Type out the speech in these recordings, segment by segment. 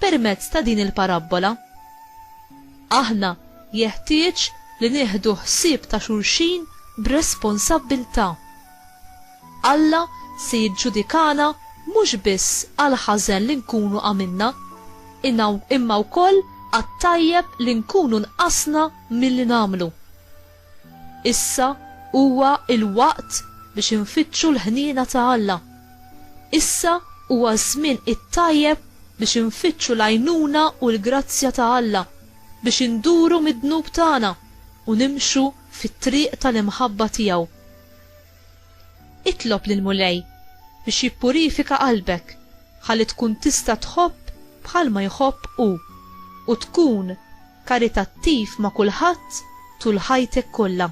Permezz ta' din il-parabbola, aħna jeħtieġ li nieħdu ħsieb ta' xulxin b'responsabbiltà. Alla se jiġġudikana mhux biss għall-ħażen li nkunu għamilna, imma wkoll għat-tajjeb li nkunu nqasna milli nagħmlu. Issa huwa l-waqt biex infittxu l-ħniena ta' Alla. Issa huwa ż-żmien it-tajjeb biex infittxu l-għajnuna u l-grazzja ta' Alla biex induru mid-dnub tagħna u nimxu fit-triq tal-imħabba tiegħu. Itlob lill-Mulej biex jippurifika qalbek ħalli tkun tista' tħobb bħalma jħobb hu u tkun karitattiv ma' kulħadd tul ħajtek kollha.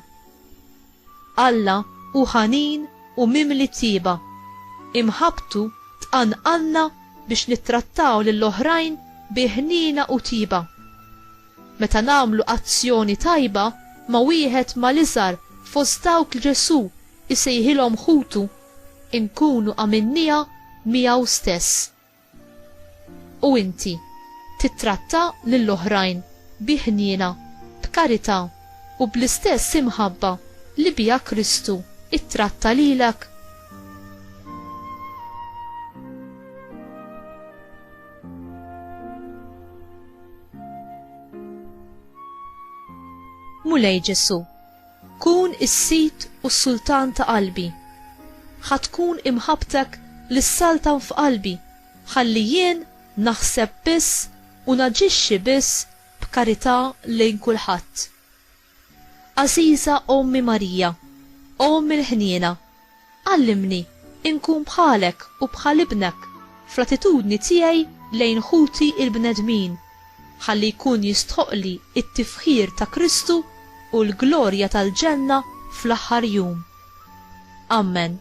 Alla hu ħanin u mimli tjieba. Imħabbtu tqanqalna biex nittrattaw lil oħrajn bi ħniena u tjieba. Meta nagħmlu azzjoni tajba ma' wieħed mal-iżgħar fost dawk li Ġesù jsejħilhom ħutu, inkunu għamilniha miegħu stess. U inti tittratta lil oħrajn bi ħniena, b'karità u bl-istess imħabba li biha Kristu ttratta lilek? Mulej Ġesù, Kun is-sid u s-sultan ta' qalbi. Ħa tkun imħabbtek li ssaltan f'qalbi ħalli jien naħseb biss u naġixxi biss b'karità lejn kulħadd. Għażiża Ommi Marija, Omm il-ħniena, Għallimni inkun bħalek u bħal Ibnek fl-attitudni tiegħi lejn ħuti l-bnedmin, ħalli jkun jistħoqqli t-tifħir ta' Kristu u l-glorja tal-ġenna fl-aħħar jum. Ammen.